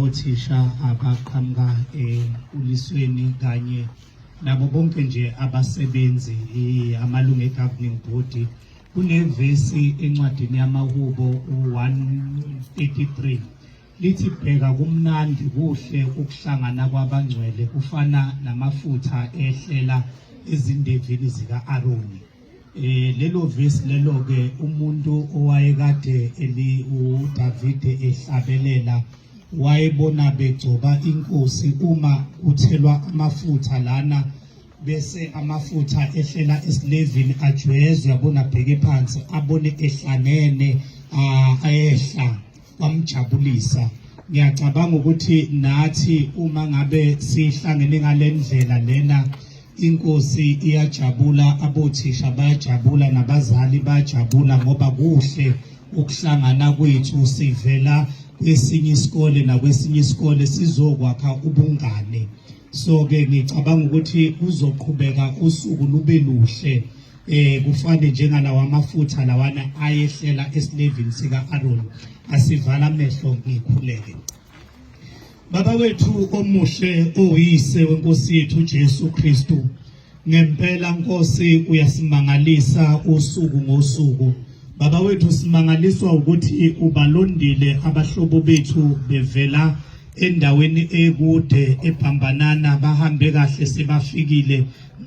othisha abaqhamuka ekulisweni kanye nabo bonke nje abasebenzi amalungu e-governing body kunevesi encwadini yamahubo u-133 lithi bheka kumnandi kuhle ukuhlangana kwabangcwele kufana namafutha ehlela ezindevini zika-aroni Eh lelo verse lelo ke umuntu owayekade eli uDavide ehlabelela wayebona begcoba inkosi uma kuthelwa amafutha lana bese amafutha ehlela esilevini ajwezwe abona bheke phansi abone ehlanene ayehla kwamjabulisa ngiyacabanga ukuthi nathi uma ngabe sihlangene ngalendlela lena inkosi iyajabula abothisha bayajabula nabazali bayajabula ngoba kuhle ukuhlangana kwethu sivela kwesinye isikole nakwesinye isikole sizokwakha ubungane so ke ngicabanga ukuthi kuzoqhubeka usuku lube luhle eh kufane njengalawa amafutha lawana ayehlela esilevini sika Aaron asivala amehlo ngikhuleke Baba wethu omuhle oyise wenkosi yethu Jesu Kristu ngempela Nkosi uyasimangalisa usuku ngosuku Baba wethu simangaliswa ukuthi ubalondile abahlobo bethu bevela endaweni ekude ebhambanana bahambe kahle sebafikile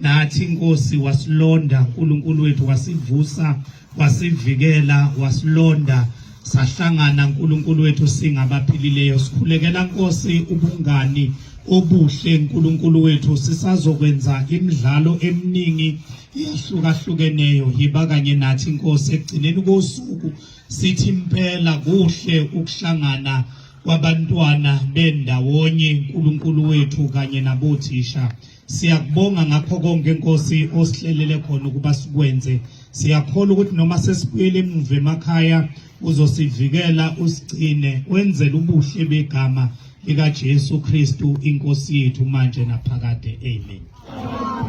nathi inkosi wasilonda uNkulunkulu wethu wasivusa wasivikela wasilonda sahlangana uNkulunkulu wethu singabaphilileyo sikhulekela Nkosi ubungani obuhle uNkulunkulu wethu sisazokwenza imidlalo eminingi iyahlukahlukeneyo yiba kanye nathi Nkosi ekugcineni kosuku sithi impela kuhle ukuhlangana kwabantwana bendawonye uNkulunkulu wethu kanye nabothisha Siyakubonga ngakho konke Nkosi osihlelele khona ukuba sikwenze. Siyakholwa ukuthi noma sesibuyele emuva emakhaya uzosivikela usigcine wenzele ubuhle begama likaJesu Kristu inkosi yethu manje naphakade. Amen.